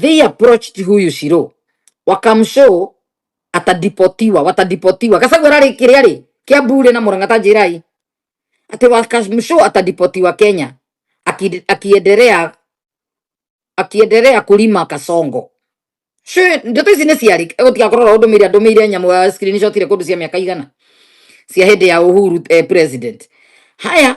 they approached huyu Shiro wakamshow atadipotiwa, watadipotiwa. Gachagua ararĩ kĩrĩa rĩ Kiambu rĩ na Murang'a ta njĩrai atĩ wakamshow atadipotiwa Kenya Aki- akiendelea akiendelea kulima kasongo Shwe, ndeto ici nĩ ciarĩ gũtigakorwo ro ndũmĩire andũmĩire nyamũ ya screenshot irĩ kũndũ cia mĩaka igana cia hĩndĩ ya Uhuru eh, president. Haya,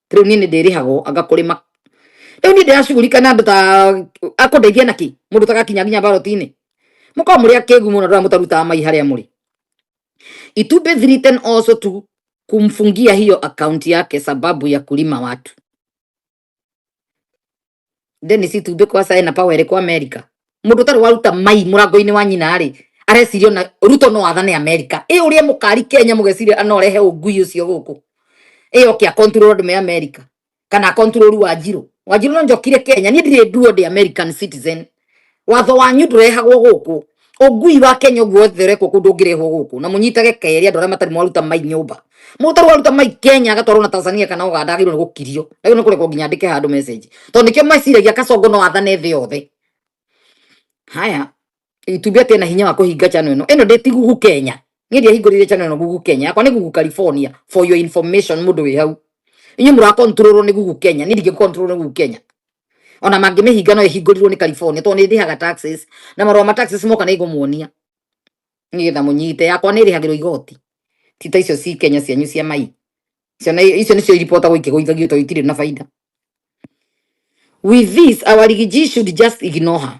riu nie ni ndirihagwo anga kurima riu nie ndirashugurika na andu ta akundeithia naki mundu tagakinya nginya barotini muko muri akigu muno ndora mutarutaga mai haria muri it would be written also to kumfungia hiyo akaunti yake sababu ya kulima watu Dennis Itumbĩ kwa China power ĩrĩ kwa America mũndũ ũtarĩ waruta mai mũrango-inĩ wa nyina rĩ areciria na Ruto no athane America ĩ ũrĩa mũkari Kenya mũgeciria no arehe ũngui ũcio gũkũ ĩ oke akonturũrwo andũ me America kana akonturũrwo Wanjirũ Wanjirũ no njokire Kenya niĩ ndirĩ nduo ndĩ American citizen watho wanyu ndurehagwo guku ungui wa Kenya guo wothe urekwo kundu ungirehwo guku na munyitage keri andu aria matari mwaruta mai nyumba mutaru waruta mai Kenya agatwarwo na Tanzania kana Uganda agirwo gukirio agirwo ni kurekwo nginya ndike handu message tondu nikio meciragia kacongo no athane thi yothe haya itubi ati na hinya wa kuhinga channel ino ino ndeti gugu Kenya ni ndia hingurire channel ino gugu Kenya yakwa ni gugu California for your information mundu wi hau inyu mura control ni gugu Kenya ni ndingi control ni gugu Kenya ona mangĩmĩhinga no ĩhingũrirwo nĩ California tondũ nĩ ndĩhaga taxes na marũa ma taxes moka nĩ ngũmuonia nĩgetha mũnyite yakwa nä rä hagä rwo igoti ti ta icio ci kenya cianyu cia mai icio nĩ- icio nä cio iribotagwo ikĩgũithagio tondå itirä na baida with this our rigiji should just ignore her